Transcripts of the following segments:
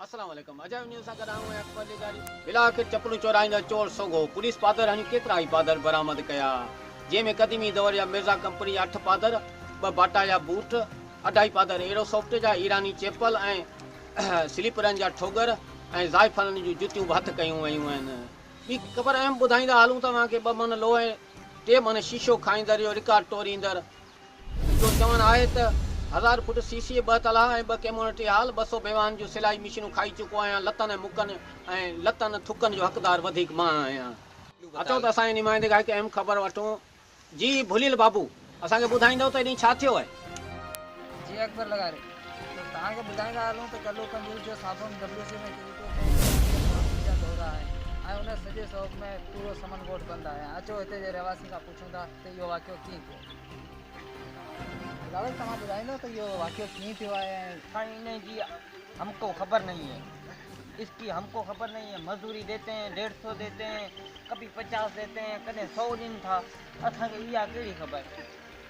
السلام عليڪم عجائب نيوز سان گڏ آئون آهيان اڪبر لغاري بلا آخر چپلون چورائيندڙ چور سوگهو پوليس پادر هڻي ڪيترا ئي پادر برآمد ڪيا جنهن ۾ قديمي دور جا مرزا ڪمپني جا اٺ پادر ٻه باٽا جا بوٽ اڍائي پادر ايرو سوفٽ جا ايراني چيپل ۽ سليپرن جا ٺوڳر ۽ زائفلن جون جتيون به هٿ ڪيون ويون آهن ٻي خبر اهم ٻڌائيندا هلون ته اوهان کي ٻه مهن لوهه ۽ ٽي مهن شيشو کائيندڙ جو رڪارڊ ٽوريندڙ جو چوڻ آهي ته هزار فوٽ سي سي ٻه تلها ۽ ٻه ڪيمونٽي هال ٻه سؤ بيواهن جون سلائي مشينون کائي چڪو آهيان لتن ۽ مڪن ۽ لتن ٿڪن جو حقدار وڌيڪ مان آهيان. اچو ته اسان جي نمائندي کان هڪ اهم خبر وٺون جي ڀليل بابو اسان کي ٻڌائيندؤ ته اڏي ڇا ٿيو آهي. جي اڪبر لغاري ته توهان کي ٻڌائيندا هلون ته گلو ڪنجوس جو سابوڻ WC ۾ ڪري پيو ڪنهن ڪنهن جي ڪنهن قسم جا دورا آهن ۽ ان سڄي سوڳ ۾ پورو سمن ڳوٺ بند آهي ۽ اچو هتي جي رهواسين کان پڇون ٿا ته اهو واقعو ڪيئن ٿيو. بلاول توهان ٻڌائيندؤ ته اهو واقعو ڪيئن ٿيو آهي ۽ سائين انهي جي همڪو خبر نهين هي. اس ڪي ھم ڪو خبر نھين ھي مزوري ديتي ھين ڏيڍ سو ديتي ھين ڪبھي پچاس ديتي ھين ڪڏھن سو ڏين ٿا اسان کي اھا ڪھڙي خبر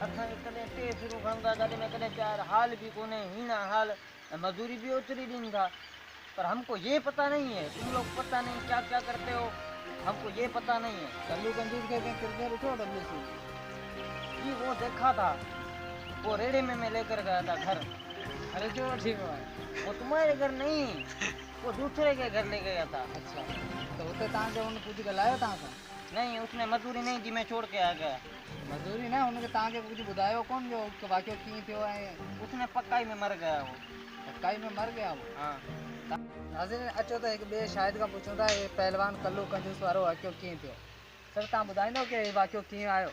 اسان کي ڪڏھن ٽي سرون کڻون ٿا گاڏي ۾ ڪڏھن چار حال بي ڪونھي ھيڻا حال ۽ مزوري بي اوتري ڏين ٿا پر ھم ڪو يھ پتا نھين ھي تم لوگ پتا نھين ڪيا ڪيا ڪرتي ھو ھم ڪو يھ پتا نھين ھي ڪلو ڪنجوس کي ڪنھن ڪربي ڏٺو ڊبليو سي جي ھو ديکا ٿا ھو ريڙھي ۾ مين ليڪر گيا ٿا گھر گھر جو ٺيڪ ھئا هو تمهاري گهر نهين هو دوسري ڪي گهر لي گيا ٿا. اڇا ته هتي تان کي هن ڪجهه ڳالهايو تان سان؟ نهين اس ني مزوري نهين دي مين ڇوڙ ڪي آ گيا. مزوري نه هن کي تان کي ڪجهه ٻڌايو ڪون جو واقعو ڪيئن ٿيو ۽. اس ني پڪائي ۾ مر گيا هو. پڪائي ۾ مر گيا هو. ها. ناظرين اچو ته هڪ ٻئي شاهد کان پڇون ٿا هي پهلوان ڪلو ڪنجوس وارو واقعو ڪيئن ٿيو. سر تان ٻڌائيندو ڪي هي واقعو ڪيئن آيو.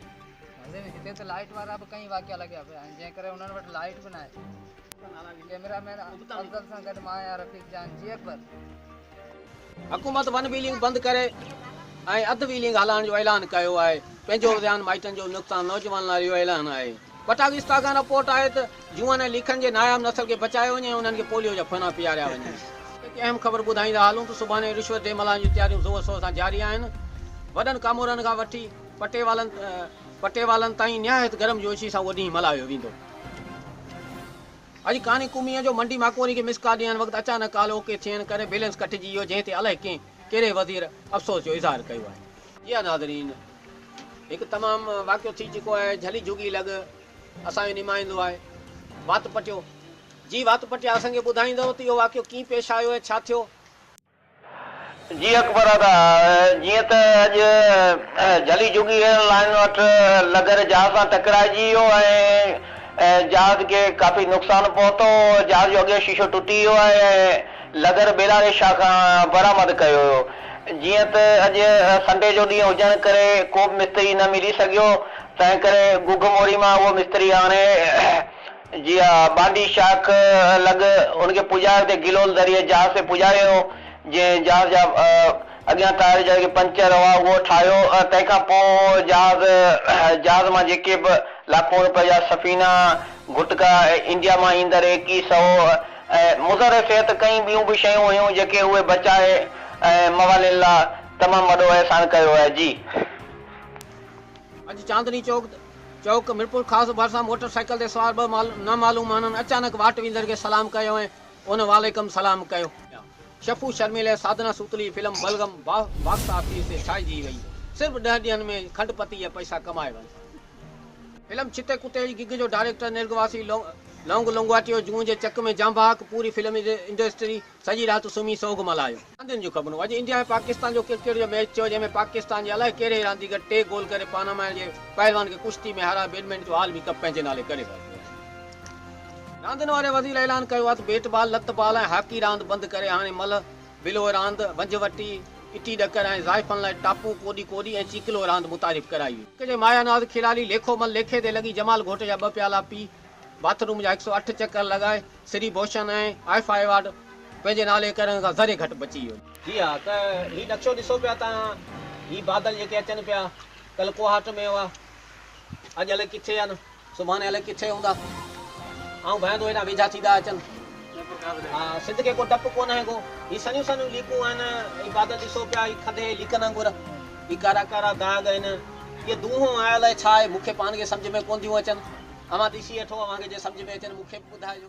هتي ته لائيٽ وارا به ڪئين واقعا لڳيا پيا آهن جنهن ڪري انهن وٽ لائيٽ به ناهي. ڪيميرا مين افضل سان گڏ مان آهيان رفيق جان جي اڪبر. حڪومت ون ويلنگ بند ڪري ۽ اڌ ويلنگ هلائڻ جو اعلان ڪيو آهي پنهنجو ذيان مائٽن جو نقصان نوجوانن لاء اهو اعلان آهي پٽاگستا کان رپورٽ آهي ته جوئن ۽ ليکن جي ناياب نسل کي بچايو وڃي ۽ انهن کي پوليو جا ڦنا پياريا وڃن هڪ اهم خبر ٻڌائيندا هلون ته سڀاني رشوت ڏي ملهائڻ جون تياريون زور شور سان جاري آهن وڏن ڪامورن کان وٺي. پٽيوالن پٽيوالن تائين نهايت گرم جوشي سان اهو ڏينهن ملهايو ويندو. اڄ ڪاني قوميء جو منڊي ماڪوئري کي مس ڪال ڏيڻ وقت اچانڪ ڪال او ڪي ٿيڻ ڪري بيلنس ڪٽجي ويو جنهن تي الائي ڪنهن ڪهڙي وزير افسوس جو اظهار ڪيو آهي. جي ها ناظرين هڪ تمام واقعو ٿي چڪو آهي جھلي جھڳي لڳ اسان جو نمائندو آهي وات پٽيو جي وات پٽيا اسان کي ٻڌائيندو ته اهو واقعو ڪيئن پيش آيو ۽ ڇا ٿيو. جي اڪبر ادا، جيئن ته اڄ جھلي جھڳي ريل لائين وٽ لگر جھاز سان ٽڪرائجي ويو ۽ جھاز کي ڪافي نقصان پهتو، جھاز جو اڳيون شيشو ٽٽي ويو آهي ۽ لگر بيلاري شاهه کان برآمد ڪيو ويو. جيئن ته اڄ سنڊي جو ڏينهن هجڻ ڪري ڪوبه مستري نه ملي سگهيو، تنهنڪري گگهه موڙي مان اهو مستري آڻي جي ها، بانڊي شاخ لڳ ان کي پڄايو تي گلول ذريعي جهاز تي پڄايو، جنهن جهاز جا اڳيان ٽائر جا جيڪي پنچر هئا اهو ٺاهيو، تنهن کان پوء جهاز جهاز مان جيڪي به لاکون روپيه جا سفينا، گٽڪا ۽ انڊيا مان ايندڙ ايڪي سئو ۽ مضر صحت ڪئين ٻيون به شيون هيون جيڪي اهي بچائي ۽ موالين لا تمام وڏو احسان ڪيو آهي جي. اڄ چاندني چوڪ چوڪ ميرپورخاص ڀرسان موٽر سائيڪل تي سوار ٻه نامعلوم ماڻهن اچانڪ واٽ ويندڙ کي سلام ڪيو ۽ ان وعليڪم سلام ڪيو. شفو شرميل ۽ ساڌنا سوتلي جي فلم بلغم باڪس آفيس تي ڇائنجي وئي، صرف ڏهه ڏينهن ۾ کنڊ پتي جا پئسا ڪمائي ورتا. فلم ڇتي ڪتي جي گگ جو ڊائريڪٽر نرگواسي لونگ لونگواٽيو جون جي چڪ ۾ جانبحق پوري فلم انڊسٽري سڄي رات سمهي سوڳ ملهايو. راندين جون خبرون، اڄ انڊيا ۽ پاڪستان جو ڪرڪيٽ جو ميچ ٿيو جنهن ۾ پاڪستان جي الائي ڪهڙي ئي رانديگر ٽي گول ڪري پاناما جي پهلوان کي ڪشتي ۾ هارائي بيڊمنٽن جو عالمي ڪپ پنهنجي نالي ڪري ورتو آهي. راندين واري وزير اعلان ڪيو آهي ته بيٽ بال، لت بال ۽ هاڪي راند بند ڪري هاڻي ملهه، بلوء راند، ونجهه وٽي، اٽي ڏڪر ۽ زائفن لاء ٽاپو، ڪوڏي ڪوڏي ۽ چيڪلوء راند متعارف ڪرائي ويئي. ملڪ جي مايا ناز کيلاڙي ليکو مل ليکي تي لڳي جمال گهوٽ جا ٻه پيالا پي، باٿ روم جا هڪ سؤ اٺ چڪر لڳائي سري بوشن ۽ آئي فائي وارڊ پنهنجي نالي ڪرڻ کان ذري گهٽ بچي ويو. جي ها ته هي نقشو ڏسو پيا ته هي بادل جيڪي اچن پيا ڪل ڪوهاٽ ۾ هئا اڄ الئي ڪٿي آهن سڀاڻي الئي ڪٿي هوندا آئون ڀائندو هيڏانهن ويجها ٿيندا اچن ها سنڌ کي ڪو ڊپ ڪونه هي ڪو هي سنيون سنيون ليڪون آهن هي بادل ڏسو پيا هي کدي ليڪن وانگر هي ڪارا ڪارا داغ آهن. اهي دونهون آيل آهي ڇا آهي؟ مون کي پاڻ کي سمجهه ۾ ڪونه ٿيون اچن. اوهان ڏسي اٺو، اوهان کي جي سمجهه ۾ اچن مون کي به ٻڌائجو.